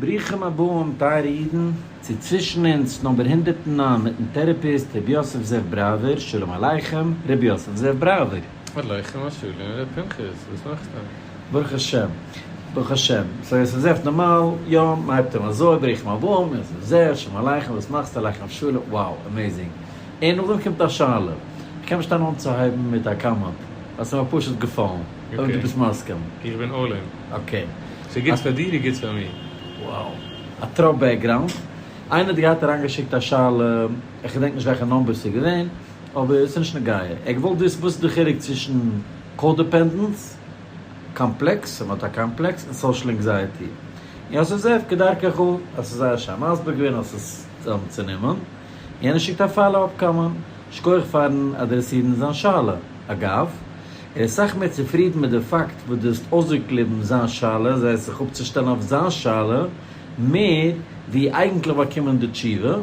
ברוכים הבאים טייערע אידן צו צווישן אונז נאמבער הונדערט נײַן מיטן טערעפיסט ר' יוסף זאב בראווער, שלום עליכם ר' יוסף זאב בראווער. עליכם השלום ר' פנחס, וואס מאכסטו? ברוך השם ברוך השם, סאו יוסף זאב נארמאל יא מ'הייבט אן אזוי, ברוכים הבאים יוסף זאב, שלום עליכם וואס מאכסטו? עליכם השלום, wow amazing, און נאכדעם קומט א שאלה, כ'קען נישט טענה'ן אנצוהייבן מיט א קאמענט ווייל ס'מיר פשוט געפאלן. אויב דו ביסט מסכים. איך בין אלל אין. אקעי. ס'איז גוט פאר דיר איז גוט פאר מיר. וואו. א טראפ בעקגראונד. איינער האט געהאט אריינגעשיקט א שאלה, איך געדענק נישט וועלכע נאמבער ס'איז געווען, אבער ס'נישט נוגע. ער האט געוואלט וויסן וואס איז די חילוק צווישן קא-דעפענדענס, קאמפלעקס, אויב מ'האט א קאמפלעקס, און סאושעל ענקזייעטי. יוסף זאב, כדרכך, האסט עס זייער שיין מסביר געווען, האסט עס צוזאמצונומען. יענער שיקט א פאלא-אפ קאמענט. שקויעך פארן אדרעסירן זיין שאלה. אגב. ער איז סאך מער צופרידן מיט די פאקט וואס דו האסט אויסגעקליבן זיין שאלה, זיי זיך אפצושטעלן אויף זיין שאלה, מער ווי אייגנטליך באקומען די תשובה,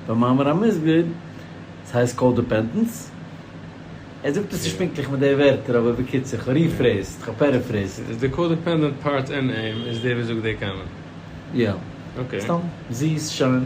במאמר המוסגר, ס'הייסט קאודעפענטענס. ער זאגט עס נישט פונקטליך מיט די ווערטער, אבער בקיצור, כ'ריפרעיזד, כ'פערעפרעיזד. איז די קאודעפענדענט פארט אין אים איז דער וואס זאגט די קאמענט? יא. אקעי. סתם זיס, שיין.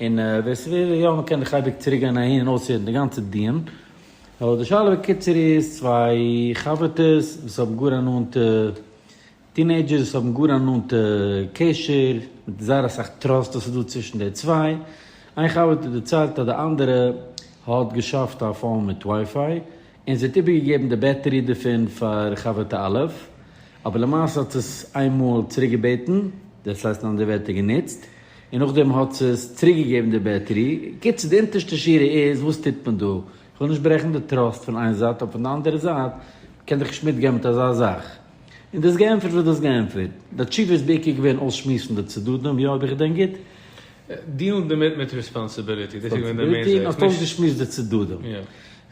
און ווער ס'וויל יא מ'קען דיך אייביג צוריק גיין אהין און אויסהערן די גאנצע דיון. אבער די שאלה בקיצור איז צוויי חבר'טעס וואס האבן גאר א נאנטע, טינעידזשערס וואס האבן גאר א נאנטע קשר, מיט זייער אסאך טראסט וואס איז דא צווישן די צוויי. איין חבר'טע דערציילט אז די אנדערע האט געשאפט א פאון מיט ווייפיי. און זי האט איבערגעגעבן די בעטערי דערפון פאר חבר'טע א', אבער למעשה האט עס איין מאל צוריק געבעטן, דעס הייסט אין אנדערע ווערטער גענוצט, און נאכדעם האט זי עס צוריק געגעבן די בעטערי, קיצור די אונטערשטע שורה איז וואס טוט מען דא? איך וויל נישט ברעכן די טראסט פון איין זייט אבער פון די אנדערע זייט קען דאך נישט מיטגיין מיט אזא זאך. און דאס געענטפערט וואס דאס געענטפערט. די תשובה איז בעיקר געווען אויסשמועסן די צדדים, יא אויב איך געדענק גוט. דילן דערמיט מיט רעספאנסעביליטי, דאס איז געווען די מעין זעץ, נישט. און האט אויסגעשמועסט די צדדים.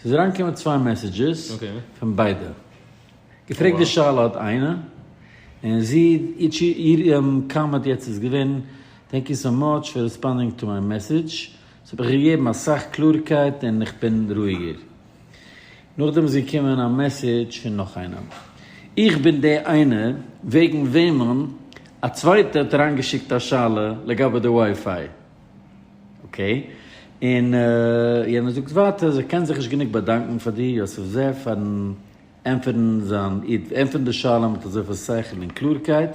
ס'איז אריינגעקומען צוויי מעסעדזשעס פון ביידע. געפרעגט די שאלה האט איינע, און זי, איר קאמענט יעצט איז געווען, טענק יו סאו מאטש פאר ריספאנדינג טו מיי מעסעדזש, ס'האט מיך געגעבן אסאך קלארקייט און איך בין רואיגער. נאכדעם איז געקומען א מעסעדזש פון נאך איינע, איך בין די איינע וועגן וועמען א צווייטע האט אריינגעשיקט א שאלה לגבי די ווייפיי. אקעי. און יענער זאגט ווייטער אז ער קען זיך נישט גענוג באדאנקן פאר דיר יוסף זי ע פארן ענטפערן זיין איד, ענטפערן די שאלה מיט אזויפיל שכל און קלארקייט.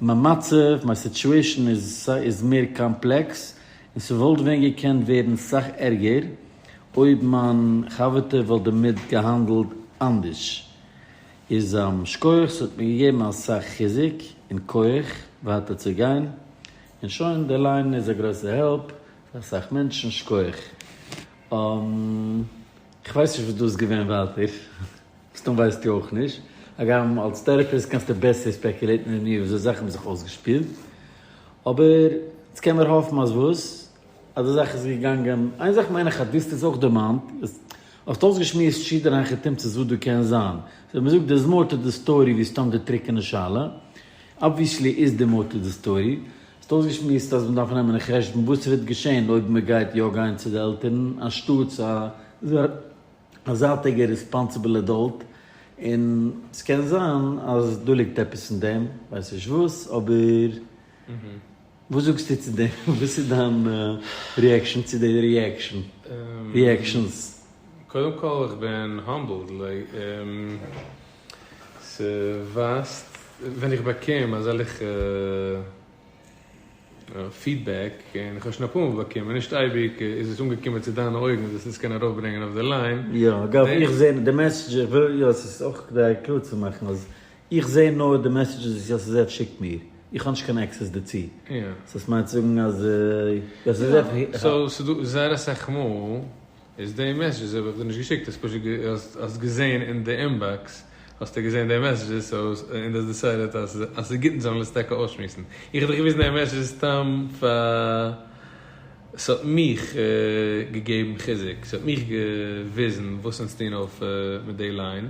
מיין מצב, מיין סיטועשן איז מער קאמפלעקס, און ס'וואלט ווען געקענט ווערן סאך ערגער, אויב מיין חבר'טע וואלט דערמיט געהאנדלט אנדערש. איז שכוח, ס'האט מיר געגעבן אסאך חיזוק און כח ווייטער צו גיין. און שוין, די ליין איז א גרויסע העלפ פאר אסאך מענטשן, שכוח. כ'ווייס נישט וואס דא איז געווען ווייטער, מסתם ווייסטו אויך נישט, הגם אלס טערעפיסט קענסטו בעסער ספעקולעיטן ווי מיר וויאזוי זאכן האבן זיך אויסגעשפילט, אבער אונז קען מיר האפן אז וואס? אז די זאך איז געגאנגען, איין זאך מיין איך אז דאס איז אויך דערמאנט, האסט אויסגעשמועסט שידער איינכע תמצות וואס דא קען זיין, סאו ווען מ'זאגט דער ז מאר טו די סטארי ווי סתם די טרוקענע שאלה, אבוויעסלי איז די מאטי די סטארי. האסט אויסגעשמועסט אז מ'דארף נעמען אין חשבון וואס וועט געשען אויב מ'גייט יא גיין צו די עלטערן אנשטאטס א זייטיגע ריספאנסיבל עדאלט, און ס'קען זיין אז דא ליגט עפעס אין דעם, כ'ווייס נישט וואס, אבער וואס זאגסטו צו דעם? וואס איז דיין ריעקשאן צו די ריעקשאן? ריעקשאנס? קודם כל איך בין האמבלד, ס'ווייזט ווען איך באקום אזעלכע פידבעק, און איך האב שוין אפאר מאל באקומען, נישט אייביג איז עס אנגעקומען צו דיינע אויגן זאלסט עס קענען ארויפברענגען אויף די ליין. יא, אגב, איך זע די מעסעדזשעס, יא, עס איז אויך כדי קלאר צו מאכן אז איך זע נאר די מעסעדזשעס וואס יוסי זעף שיקט מיר, איך האב נישט קיין עקסעס דערצו, סאו עס מיינט צו זאגן אז יוסי זעף. סאו ס'איז דא זייער אסאך מאל איז די מעסעדזשעס האב איך דיר נישט געשיקט, האסט פשוט האסט געזעהן אין די אינבאקס האסטו געזעהן די מעסעדזשעס סאו און די האסט דיסיידעט אז אז ס'איז גוט אונז זאלן עס טאקע אויסשמועסן, איך האב דיך געוויזן די מעסעדזשעס סתם פאר ס'האט מיך געגעבן חיזוק, ס'האט מיך געוויזן וואס אונז טוהן אויף מיט די ליין.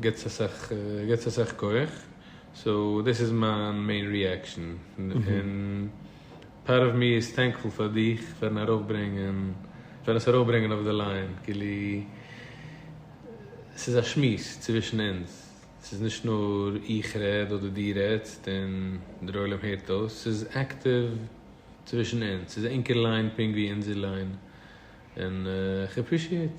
געטס אסאך געטס אסאך כח סאו דאס איז מיין מעין ריעקשאן און פארט אוו מי איז טענקפול פאר דיך פארן ארויפברענגען פארן עס ארויפברענגען אויף די ליין כאילו ס'איז א שמועס צווישן אונז ס'איז נישט נאר איך רעד אדער דו רעדסט און דער עולם הערט אויס ס'איז עקטיוו צווישן אונז ס'איז ענקער ליין פונקט ווי אונזער ליין און איך עפרישיעט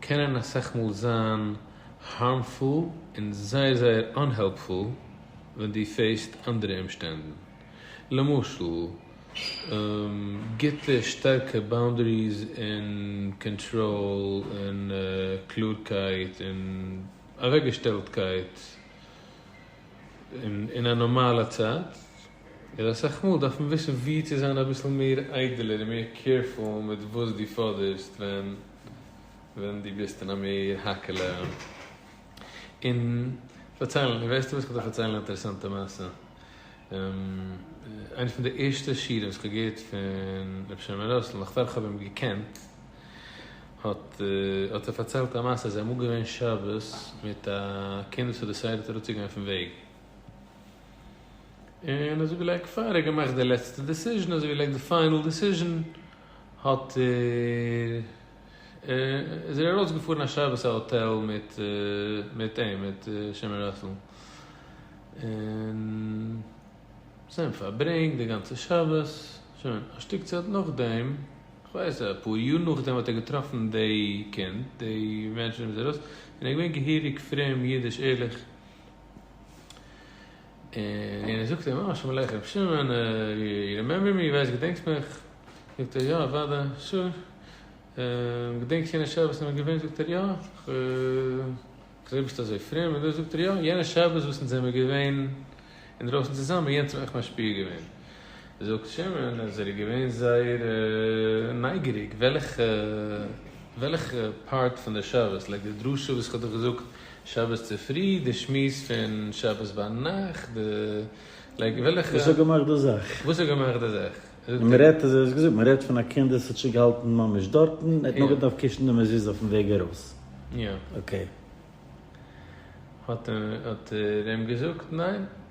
קענען אסאך מאל זיין הארמפול און זייער זייער אנהעלפפול ווען דו פעיסט אנדערע אומשטענדן. למשל, גוטע שטארקע באונדעריס און קאנטראל און קלארקייט און אוועקגעשטעלטקייט אין א נארמאלע צייט. און אסאך מאל דארף מען וויסן ווי צו זיין אביסל מער איידעלער און מער קעירפול מיט וואס דו פאדערסט ווען ווען דו ביסט אין א מער האקעלע און פארציילן. און וועסטו וואס כ'וועל דיך פארציילן א אינטערעסאנטע מעשה. איינע פון די ערשטע שיעורים וואס כ'האב געהערט פון רבי שלמה ראסל נאך פאר כ'האב אים געקענט האט האט ער פארציילט א מעשה אז ער איז אמאל געווען שבת מיט א קינד וואס האט דעסיידעט אראפצוגיין פון וועג. און אזוי ווי לעק פאר ער האט געמאכט די לעצטע דעסיזשען אזוי ווי לעק די פיינעל דעסיזשען האט ער איז ער ארויס געפארן א שבת א האטעל מיט מיט אים מיט שמערלעכל און זיי האבן פארברענגט די גאנצע שבת שוין א שטיק צייט נאכדעם כ'ווייס אפאר יאר נאכדעם האט ער געטראפן די קינד די מענטשען און ער איז געווען געהעריג פרום אידיש ערליך. און ער זאגט אים, אה, שלום עליכם ר' שמעון, יו רימעמבער מי? ווייסט געדענקסט מיך? זאגט ער, יא, אוודאי, שור. געדענקסט יענע שבת וואס מיר האבן געווען? זאגט ער, יא, איך זעה ביסט אזוי פרום, און דאס, זאגט ער, יא, יענע שבת וואס אונז זעמיר געווען אינדרויסן צוזאמען, יענץ האט מיך משפיע געווען. זאגט שמעון אז ער איז געווען זייער נייגעריג וועלכע וועלכע פארט פון די שבת, לייק די דרשה וואס איך האב דיר געזאגט שבת צופרי, די שמועס פון שבת ביינאכט, די לייק וועלכע. וואס האט געמאכט די זאך? וואס האט געמאכט די זאך? און מען רעדט אז ער האט געזאגט מען רעדט פון א קינד וואס האט שוין געהאלטן ממש דארטן, ער האט נאר געדארפט קישן די מזוזה אויפן וועג ארויס. יא. אקעי. האט ער אים געזאגט ניין.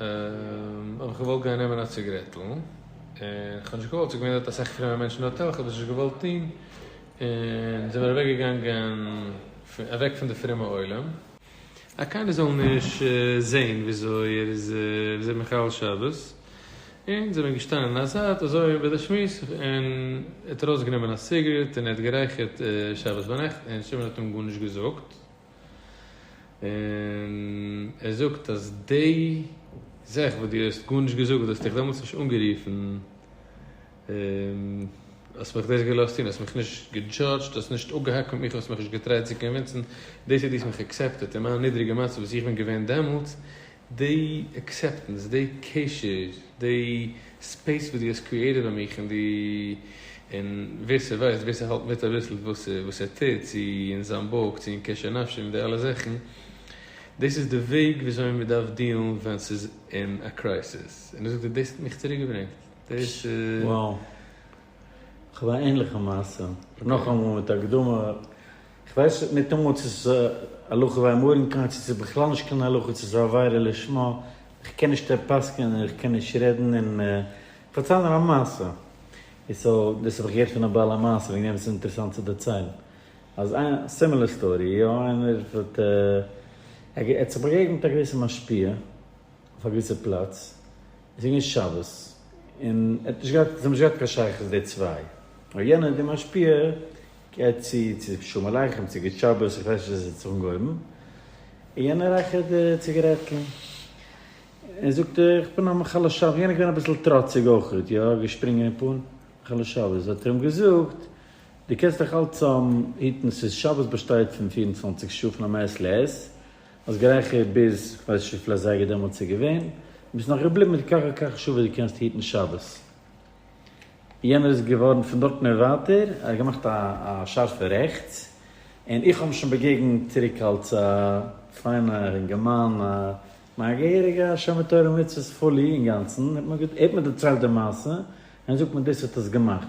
האב איך געוואלט גיין נעמען א ציגרעטל, און כ'האב נישט געוואלט, ס'איז געווען דארט אסאך פרומע מענטשן אין האטעל, כ'האב עס נישט געוואלט טון, און זעמיר אוועק געגאנגען אוועק פון די פרומע עולם. אז קיינער זאל נישט זעהן וויאזוי ער איז וויאזוי מחלל שבת, און זעמיר געשטאנען אין א זייט אזוי ביי די שמועס, און ער האט ארויסגענומען א סיגרעט און ער האט גערייכערט שבת ביינאכט, און שמעון האט אים גארנישט געזאגט. און ער זאגט אז די זעך וואס דו האסט גארנישט געזאגט, וואלטסטו איך דעמאלטס נישט אנגערופן, האסט מיך דאס געלאזט טון, האסט מיך נישט געדזשאדזשט, האסט נישט אפגעהאקט מיט מיך, האסט מיך נישט געטרייט צו קאנווינסן, דאס אז דו האסט מיך עקסעפטעט אין מיין נידריגע מצב וואס איך בין געווען דעמאלטס, די עקסעפטענס, די קשר, די ספעיס וואס דו האסט קריעטעד ביי מיך און די, און ווער ס'ווייסט, ווער ס'האלט מיט אביסל וואס וואס ער טוט, צו אין זיין בויך, צו אין קשר נפשי מיט די אלע זאכן, דאס איז די וועג וויאזוי מען דארף דיעלן ווען ס'איז אין א קרייסיס, און דאס האט דאס האט מיך צוריק געברענגט, דאס איז. וואו. כ'האב א ענליכע מעשה, נאכאמאל מיט הקדמה, כ'ווייס ניטאמאל צו ס'איז א הלכה ביי מרן כהאן צו ס'איז בכלל נישט קיין הלכה צו ס'איז א עבירה לשמה, כ'קען נישט ער פסק'נען און כ'קען נישט רעדן און כ'פארצייל נאר א מעשה איז סאו דאס האב איך געהערט פון א בעל המעשה וועגן דעם איז אינטערעסאנט צו דערציילן אז א סימילער סטארי יא איינער האט ער האט זיך באגעגנט א געוויסע משפיע אויף א געוויסע פלאץ. עס איז געווען שבת און ער האט נישט געהאט, זיי האבן נישט געהאט קיין שייכות די צוויי, נאר יענער די משפיע גייט צו צו שלום עליכם, צו גוט שבת, איך ווייס נישט וואס עס האט זיך אנגעהויבן, און יענער רייכערט די ציגערעטל און זאגט איך בין א מחלל שבת, יענער איז געווען אביסל טראציג אויכעט, יא געשפרינגען אין פאן, מחלל שבת, האט ער אים געזאגט דו קענסט דיך אלץ היטן, ס'איז שבת באשטייט פון פֿיר און צוואַנציק שעה פון המעת לעת, האסט גערייכערט ביז כ'ווייס נישט וויפיל אזייגער דעמאלטס איז געווען, און ביסט נאך געבליבן מיט כך וכך שעה וואס דו קענסט היטן שבת. יענער איז געווארן פון דארטן און ווייטער, ער האט געמאכט א שארפע רעכטס, און איך האב אים שוין באגעגנט צוריק אלס א פיינער און געמיינע, מיין געהעריגע שומר תורה ומצוות פולי אינגאנצן, ער האט מיר דערציילט די מעשה, און ער זאגט מיר דאס האט עס געמאכט.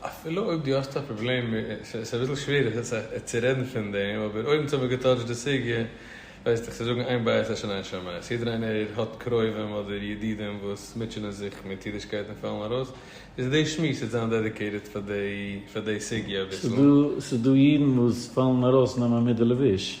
אפילו אויב דו האסט א פראבלעם, ס'איז אביסל שווער איך זיך צו רעדן פון דעם, אבער אויב אונז האבן געטאטשט די סוגיא, ווייסט איך צו זאגן איין בית אשם איין שמאי, אז יעדער איינער האט קרובים אדער ידידים וואס מוטשענען זיך מיט אידישקייט און פאלן ארויס, איז די שמועס וועט זיין דעדיקעיטעד פאר די פאר די סוגיא אביסל. ס'איז דא אידן וואס פאלן ארויס נאר מען מיט די לבוש.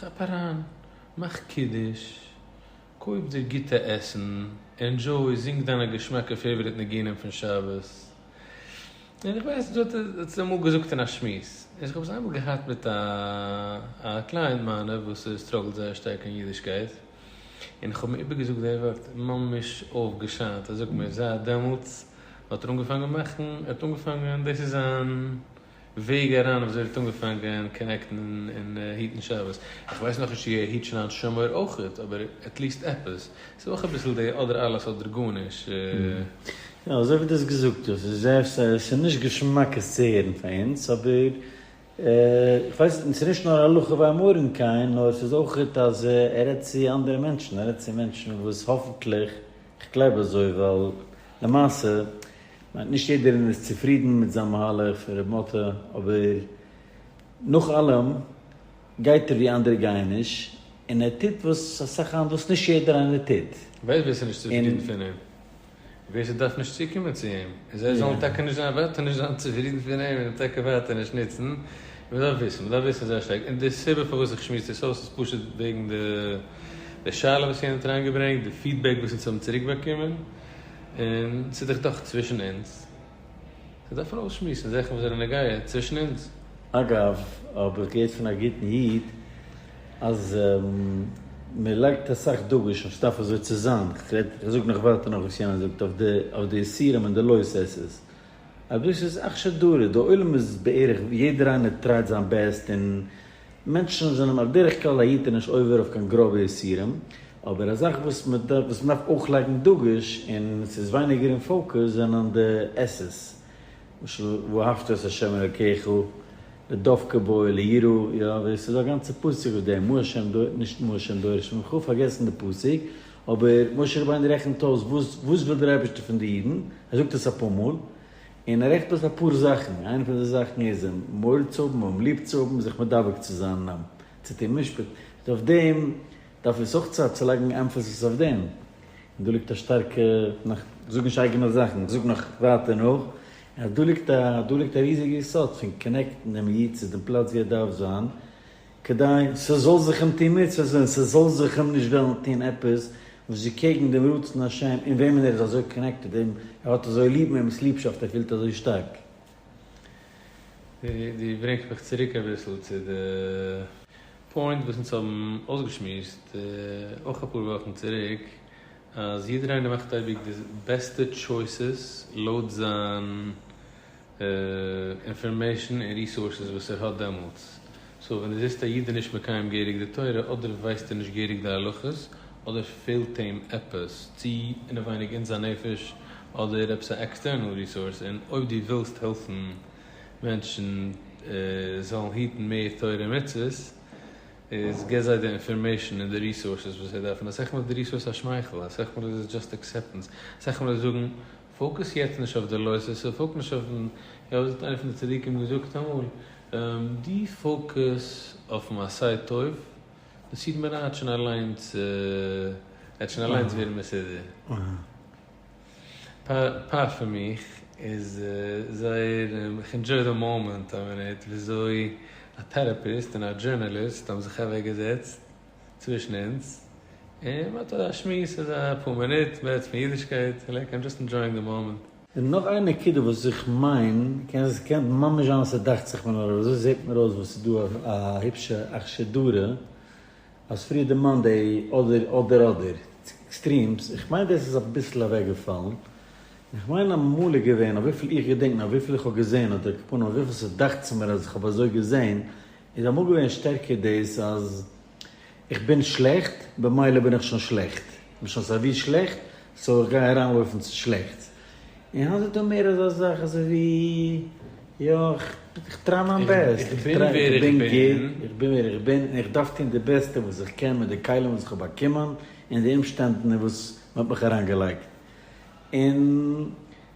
כאפ אריין, מאך קידוש, קויף דיר גוטע עסן, ענדזשוי, זינג דיינע געשמאקע פעיוואריט ניגונים פון שבת. און איך ווייס דו האסט עס אמאל געזאגט אין א שמועס, איך האב עס איינמאל געהאט מיט א א קלייענט מיינע וואס סטראגלט זייער שטארק אין אידישקייט, און איך האב אים איבערגעזאגט די ווארט, ממש אויפגעשיינט, ער זאגט מיר זייט דעמאלטס האט ער אנגעפאנגען מאכן, ער האט אנגעפאנגען, דאס איז זיין. וועג אריין וויאזוי ער האט אנגעפאנגען קאנעקטן און היטן שבת, איך ווייס נאך נישט צו ער היט שוין היינט שומער אויכעט, אבער עטליסט עפעס, ס'איז אויך אביסל די אדער אלעס אדער גארנישט. יא, אזוי ווי דו האסט געזאגט, דאס איז זייער, ס'איז נישט געשמאק עס צו הערן פאר אונז, אבער איך ווייס, און ס'איז נישט נאר הלכה ביי מרן כהן, נאר ס'איז אויכעט אז ער רעדט צו אנדערע מענטשן, ער רעדט צו מענטשן וואס האפנטליך. כ'גלייב אזוי ווייל למעשה מיינט נישט יעדער איז צופרידן מיט זיין מהלך פון ר' מאטע אבער נאך אלעם גייט ער ווי אנדערע גייען נישט און ער טוט וואס אסאך היינט וואס נישט יעדער איינער טוט. ווער ווער ס'איז נישט צופרידן פון אים? ווער ס'דארף נישט צוקומען צו אים איז ער זאל טאקע נישט זיין וועט ער נישט זיין צופרידן פון אים און טאקע וועט ער נישט נוצן. מ'דארף וויסן מ'דארף וויסן זייער שטארק און די סיבה פארוואס איך שמועס דאס אויס איז פשוט וועגן די. די שאלה וואס יענער האט אריינגעברענגט, די פידבעק וואס אונז האבן צוריקבאקומען, און ס'איז דאך דאך צווישן אונז, זיי דארפן אויסשמועסן זאכן וואס זענען נוגע צווישן אונז. אגב, האב איך געהערט פון א גוטן איד אז מען לייגט אסאך דגוש אויף ס'דארף אזוי צו זיין, כ'רעד, כ'זאג נאך ווייטער נאך וואס יענער זאגט, אויף די אויף די איסורים און די לא עשה'ס, אויב דאס איז אכשר דרא, די עולם איז בערך, יעדער איינער טרייט זיין בעסט און מענטשן זענען בדרך כלל א יתר נישט עובר אויף קיין גראבע איסורים, אבער א זאך וואס מען דארף וואס מען דארף אויך לייגן דגוש און עס איז ווייניגער אין פאוקוס זענען די עס'ס, למשל ואהבת את ה' אלקיך, לדבקה בו, ליראה, יא, ווער עס איז דא א גאנצע פסוק אויף דעם, מה השם דורש, נישט מה השם דורש ממך, פארגעסן די פסוק, אבער משה רבינו רעכנט אויס וואס וואס וויל דער אייבערשטער פון די אידן, ער זאגט עס אפאר מאל, און ער רעכט אויס אפאר זאכן, איינע פון די זאכן איז אים מוהל צו האבן, אים ליב צו האבן, זיך מדבק צו זיין, אים צו טון משפט, און אויף דעם דארף אונז אויך צייט צו לייגן עמפעסיס אויף דעם, און דא ליגט א שטארקע, נאך, כ'זאג נישט אייגענע זאכן, איך זאג נאך ווייטער נאך, אז דא ליגט א, דא ליגט א ריזיגע יסוד פון קאנעקטן דעם איד צו דעם פלאץ ווי ער דארף זיין, כדי ס'זאל זיך אים טון מצוות און ס'זאל זיך אים נישט וועלן טון עפעס וואס איז קעגן דעם רצון השם אין וועמען ער איז אזוי קאנעקטעד, וועם ער האט אזוי ליב, וועמענס ליבשאפט ער פילט אזוי שטארק. דו ברענגסט מיך צוריק אביסל צו די פוינט וואס אונז האבן אויסגעשמועסט אויך אפאר וואכן צוריק, אז יעדער איינער מאכט אייביג די בעסטע טשויסעס לויט זיין אינפארמעישן און ריסארסעס וואס ער האט דעמאלטס. סאו ווען דו זעסט א איד איז נישט מקיים געהריג די תורה, אדער ווייסט ער נישט געהריג די הלכות, אדער פעלט אים עפעס, צו אינעווייניג אין זיין נפש, אדער עפעס א עקסטערנעל ריסארס, און אויב דו ווילסט העלפן מענטשן זאלן היטן מער תורה און מצוות, איז גיב זיי די אינפארמעישן און די ריסארסעס וואס זיי דארפן. אסאך מאל איז די ריסארס א שמייכל, אסאך מאל איז עס דזשאסט עקסעפטענס, אסאך מאל איז זאגן פאוקוס יעצט נישט אויף די לוי'ס, ס'איז פאוקוס נישט אויפן, איך האב עס מיט איינער פון די צדיקים געזאגט אמאל, דו פאוקוס אויפן עשה טוב, די סיר מרע האט שוין אליינס, וועט שוין אליינס ווערן מסודר. פאר פאר מיך איז זייער, איך ענדזשוי די מאמענט, א מינוט וויאזוי א טעראפיסט און א דזשורנאליסט האבן זיך אוועקגעזעצט, צווישן אונז, און מען האט א שמועס איזה פאר מינוט, מער פון אידישקייט, לייק איים דזשאסט ענדזשויאינג די מאמענט. און נאך איין נקודה וואס איך מיין, קען קען ממש זיין אז ס'דאכט זיך מיר נאר אזוי, זעט מיר אויס וואס ס'דא א היפשע אכשר דרא אז פריער דערמאנט די אדער אדער אדער עקסטרימס, איך מיין דאס איז אביסל אוועקגעפאלן, און איך מיין אמאל איז געווען, אויף וויפיל איך געדענק, אויף וויפיל איך האב געזען אדער כפונעם אויף וויפיל ס'דאכט זיך מיר אז איך האב אזוי געזען, איז אמאל געווען שטערקער דאס אז איך בין שלעכט, במילא בין איך שוין שלעכט, איך בין שוין סייווי שלעכט, סאו איך גיי אריינווארפן צו שלעכטס. און היינט איז דא מער אזא זאך אזוי ווי, יא, איך טריי מיין בעסט, איך בין ווער איך בין, איך בין ווער איך בין, און איך דארף טון די בעסטע וואס איך קען מיט די כלים וואס איך האב באקומען, און די אומשטענדן אין וואס מען האט מיך אריינגעלייגט. און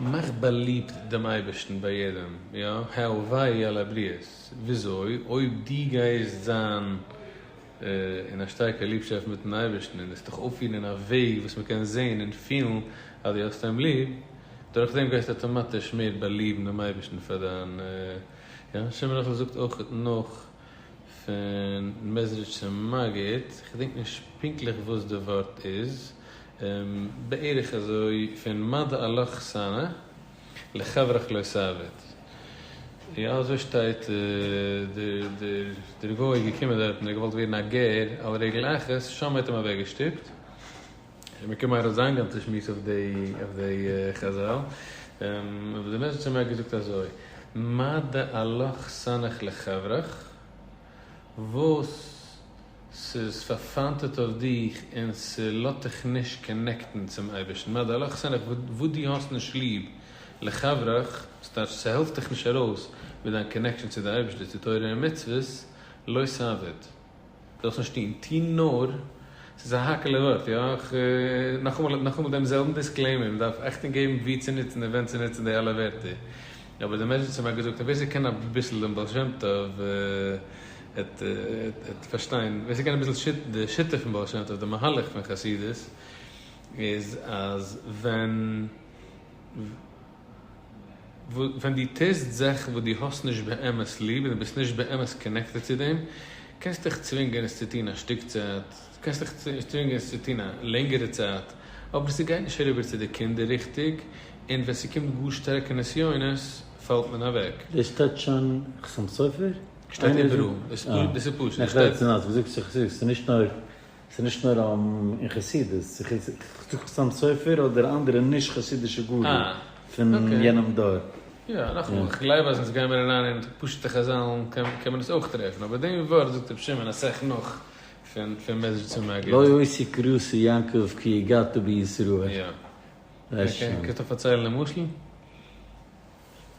מאך באליבט דעם אייבערשטן ביי יעדעם, יא, הלוואי אלע בריות, וויאזוי? אויב דו גייסט זיין אין א שטארקע ליבשאפט מיטן אייבערשטן און וועסט דיך אויפפירן אין א וועג וואס מען קען זען און פילן אז דו האסט אים ליב, דורכדעם גייסטו אטאמאטיש מער באליבן דעם אייבערשטן פאר דיין, יא, השם יתברך זאגט אויך נאך, פון מעזריטשער מגיד, כ'דענק נישט פונקטליך וואס די ווארט איז, בערך אזוי פון מה דעלך שנא לחברך לא סעביד, יא אזוי שטייט דער גוי איז געקומען דארטן ער האט געוואלט ווערן א גר על רגל אחת, שם האט אים אוועק געשטופט, מען קען מאכן א זאנג גאנצע שמועס אויף דעי חזל, אבער די מעסעדזש האט מער געזאגט אזוי, מה דעלך סנך לחברך, וואס ס'איז פארפיינטעט אויף דיך און ס'לאט דיך נישט קאנעקטן צום אייבערשטן, מה דעלך סנך, וואס דו האסט נישט ליב, לחברך, וואס טייטש ס'העלפט דיך נישט ארויס מיט דיין קאנעקשאן צו די אייבערשטער, צו תורה און מצוות, לא סעביד. זאלסט נישט טון, טו נאר, ס'איז א האקעלע ווארט, יא, איך, נאכאמאל, נאכאמאל דעם זעלבן דיסקלעימער, מען דארף עכט אנגעבן וואו צו נוצן און ווען צו נוצן די אלע ווערטער. אבער די מעשבת'ן האט געזאגט אז ווער ס'קען אביסל דעם בעל שם טוב עט עט פארשטיין, ווער ס'קען אביסל שיט די שיטה פון בעל שם טוב, די מהלך פון חסידות, איז אז ווען. ווען דו טוסט זאכן וואס דו האסט נישט באמת ליב און דו ביסט נישט באמת קאנעקטעד צו דעם, קענסטו דיך צווינגען עס צו טון א שטיק צייט, קענסטו דיך צווינגען עס צו טון א לענגערע צייט, אבער ס'גייט נישט אריבער צו די קינדער ריכטיג, און ווען ס'קומט גאר שטארקע נסיונות פאלט מען אוועק. דאס שטייט שוין חתם סופר? שטייט איבעראל, דאס איז פשוט. ס'איז נישט נאר אין חסידות, חתם סופר אדער אנדערע נישט חסידישע גדול פון יענעם דור. יא, נאכאמאל, איך גלייב אז אונז גיימער אריין אין פשוטע חזל'ן קען מען עס אויך טרעפן, אבער דעם ווארט זאגט רבי שמעון אסאך נאך פון מעז ג צו מג א. לא יוסי קרוסי יעקב כי הגעת בישראל. יא. קענסט דאך פארציילן די משל?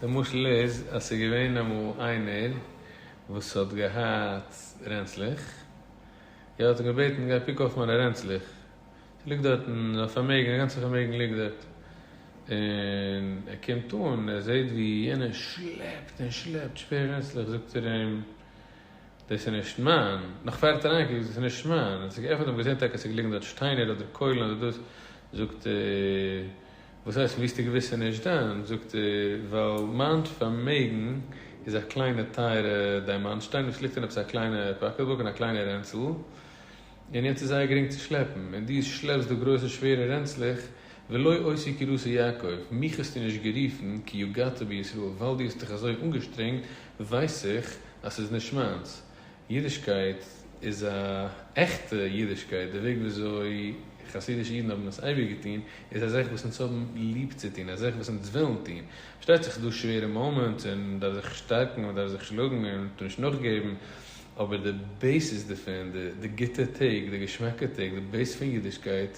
די משל איז אז ס'איז געווען אמאל איינער וואס האט געהאט רענצלעך. ער האט אים געבעטן גיי קוק אויף מיינע רענצלעך, ס'ליגט דארטן א פארמעגן, א גאנצע פארמעגן ליגט דארט, און ער קומט אן, ער זעט ווי יענער שלעפט און שלעפט שווערע רענצלעך, זאגט ער אים, דאס איז נישט מיין, נאך פאר ער האט אריין געקוקט, דאס איז נישט מיין, האט ער געעפנט און געזען טאקע אז ס'ליגן דארט שטיינער אדער קוילן אדער דאס, זאגט ער. וואס הייסט וויסטע געוויסע נישט דיינס? זאגט ער, ווייל מיין פארמעגן איז א קליינע טייערע דיימאנט-שטיין וואס ליגט אין עפעס א קליינע פאקעטבוק אין א קליינע רענצל, און יעצט איז זייער גרינג צו שלעפן, און דו שלעפסט דא גרויסע שווערע רענצלעך, ולא עושה כרצון יעקב, מיך האסטו נישט גערופן כי יגעת בי ישראל, ווייל דו האסט דיך אזוי אנגעשטרענגט, ווייס איך אז ס'איז נישט מיינס, אידישקייט איז א עכטע אידישקייט, די וועג וויאזוי חסידישע אידן האבן עס אייביג געטון, איז א זאך וואס אונז האבן ליב צו טון, א זאך וואס אונז ווילן טון. פארשטייט זיך ס'דא שווערע מאמענטס און מען דארף זיך שטארקן, מען דארף זיך שלאגן און מ'טאר נישט נאכגעבן, אבער די בעיסיס דערפון, די גוטע טעג, די געשמאקע טעג, די בעיס פון אידישקייט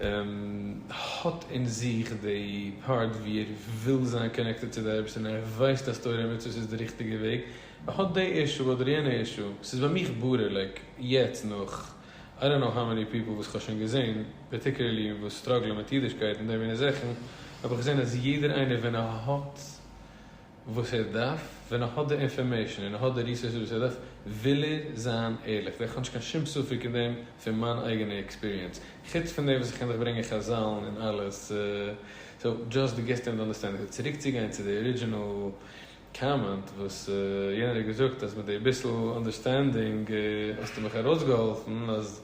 האט אין זיך די פארט ווי ער וויל זיין קאנעקטעד צו די אייבערשטער און ער ווייסט אז תורה און מצוות איז די ריכטיגע וועג, ער האט די אישו אדער יענע אישו, ס'איז ביי מיך בארעליג יעצט נאך איי דאנט נאו האו מעני פיפל וואס כ'האב שוין געזען פארטיקולערלי וואס סטראגלען מיט אידישקייט און די מינע זאכן, האב איך געזען אז יעדער איינער ווען ער האט. וואס ער דארף, ווען ער האט די אינפארמעישן און ער האט די ריסארסעס וואס ער דארף, וויל ער זיין ערליך, זעה איך נישט קיין שום ספק אין דעם פון מיין אייגענע עקספיריענס, חוץ פון דעם וואס איך קען דיך ברענגען חזל'ן און אלעס, סאו דזשאסט דו גיבסט אים די אנדערסטענדינג, סאו צוריקצוגיין צו די ארידזשינעל קאמענט וואס יענער האט געזאגט אז מיט די ביסל אנדערסטענדינג האסטו מיך ארויסגעהאלפן אז